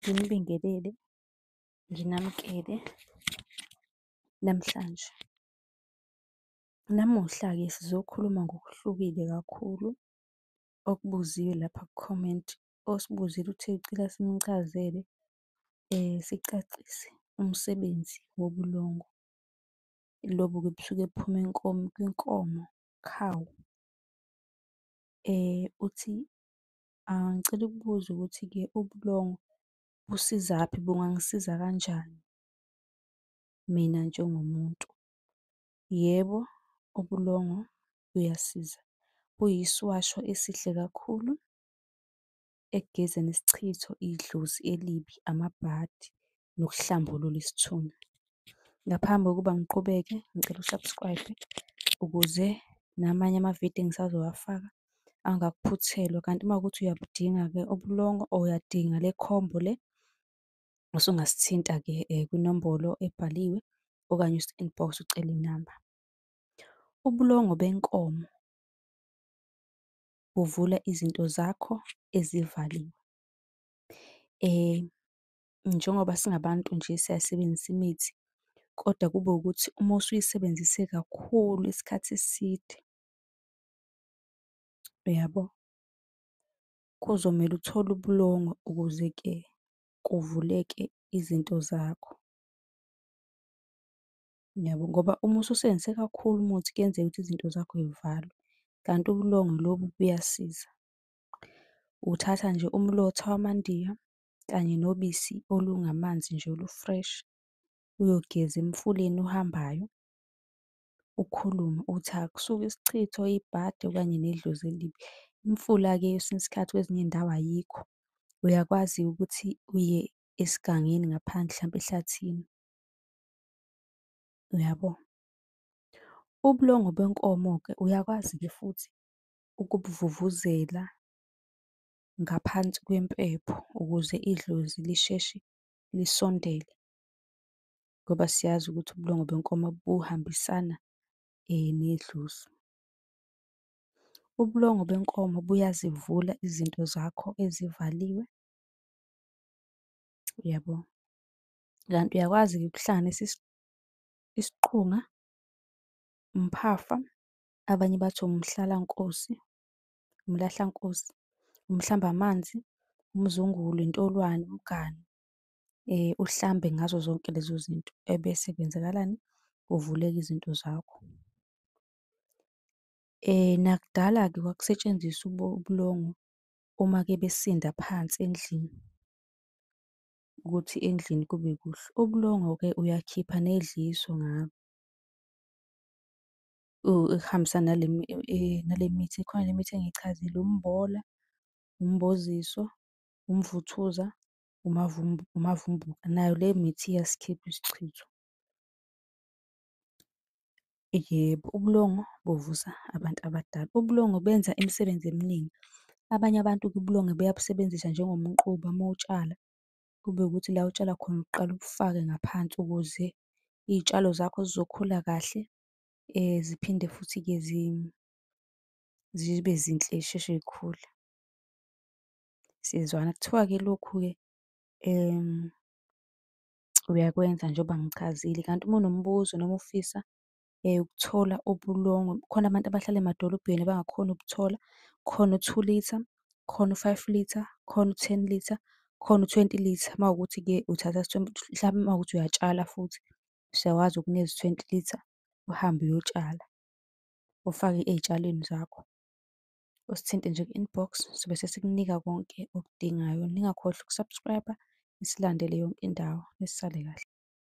Nginibingelele, nginamukele namhlanje. Namuhla-ke sizokhuluma ngokuhlukile kakhulu okubuziwe lapha ku-comment osibuzile ukuthi ucela simchazele sicacise umsebenzi wobulongo. Lobu-ke busuke buphuma kwinkomo, cow. Uthi Ngicela ukubuza ukuthi-ke ubulongwe busizaphi, bungangisiza kanjani mina njengomuntu? Yebo, ubulongwe buyasiza, buyisiwasho esihle kakhulu ekugezeni isichitho, idlozi elibi, amabhadi nokuhlambulula isithunywa. Ngaphambi kokuba ngiqhubeke ngicela u-subscribe ukuze namanye amavidiyo engisazowafaka angakuphuthelwa. Kanti uma kuwukuthi uyabudinga-ke ubulongo or uyadinga le combo le usungasithinta-ke um kwinombolo ebhaliwe okanye usi-inbox ucele inamba. Ubulongo benkomo buvula izinto zakho ezivaliwe. njengoba singabantu nje siyayisebenzisa imithi, kodwa kube ukuthi uma usuyisebenzise kakhulu isikhathi eside, uyabo? Kuzomele uthole ubulongo ukuze-ke kuvuleke izinto zakho. Niyabo? Ngoba uma ususebenzise kakhulu umuthi kuyenzeka ukuthi izinto zakho y'valwe, kanti ubulongwe lobu buyasiza. Uthatha nje umlotha wamandiya, kanye nobisi olungamanzi nje olu-fresh. Uyogeza emfuleni ohambayo, ukhulume uthi akusuke isichitho, ibhadi okanye nedlozi elibi. Imfula-ke kwesinye isikhathi kwezinye iy'ndawo ayikho, uyakwazi-ke ukuthi uye esigangeni ngaphandle hlampe ehlathini, uyabo? Ubulongwe benkomo-ke uyakwazi-ke futhi ukubuvuvuzela ngaphansi kwempepho ukuze idlozi lisheshe lisondele ngoba siyazi ukuthi ubulongwe benkomo buhambisana nedlozi. Ubulongwe benkomo buyazivula izinto zakho ezivaliwe, uyabo? Kanti uyakwazi-ke ukuhlanganisa isiqunga, umphafa, abanye bathi umhlalankosi, umlahlankosi, umhlambamanzi, umzungulu, intolwane, umganu, uhlambe ngazo zonke lezo zinto ebese kwenzakalani? Kuvuleka izinto zakho. Nakudala-ke kwakusetshenziswa ubulongwe uma-ke besinda phansi endlini, ukuthi endlini kube kuhle. Ubulongwe-ke uyakhipha nedliso ngalo. ukuhambisana nale mithi, ikhona le mithi engiyichazile, umbola, umboziso, umvuthuza, umavumbuka. Nayo le mithi iyasikhipha isichitho. Yebo, ubulongwe buvusa abantu abadala. Ubulongwe benza imisebenzi eminingi. Abanye abantu-ke ubulongwe buyabusebenzisa njengomquba uma utshala, kube ukuthi la otshala khona uqale ubufake ngaphansi ukuze iy'tshalo zakho zizokhula kahle, ziphinde futhi-ke zibe zinhle zisheshe zikhule. Siyezwana. Kuthiwa-ke lokhu-ke uyakwenza njengoba ngichazile, kanti uma unombuzo noma ufisa ukuthola ubulongwe, kukhona abantu abahlala emadolobheni abangakhoni ukuthola, kukhona u-two litre, kukhona u-five litre, kukhona u-ten litre, kukhona u-twenty litre uma kuwukuthi-ke uthatha mhlampe uma kuwukuthi uyatshala futhi. sewazi ukunezi twenty litre, uhambe uyotshala, ufake ey'tshalweni zakho. Usithinte nje ku-inbox sobe sesikunika konke okudingayo. Ningakhohlwa uku-subscribe-a, nisilandele yonke indawo, nisale kahle.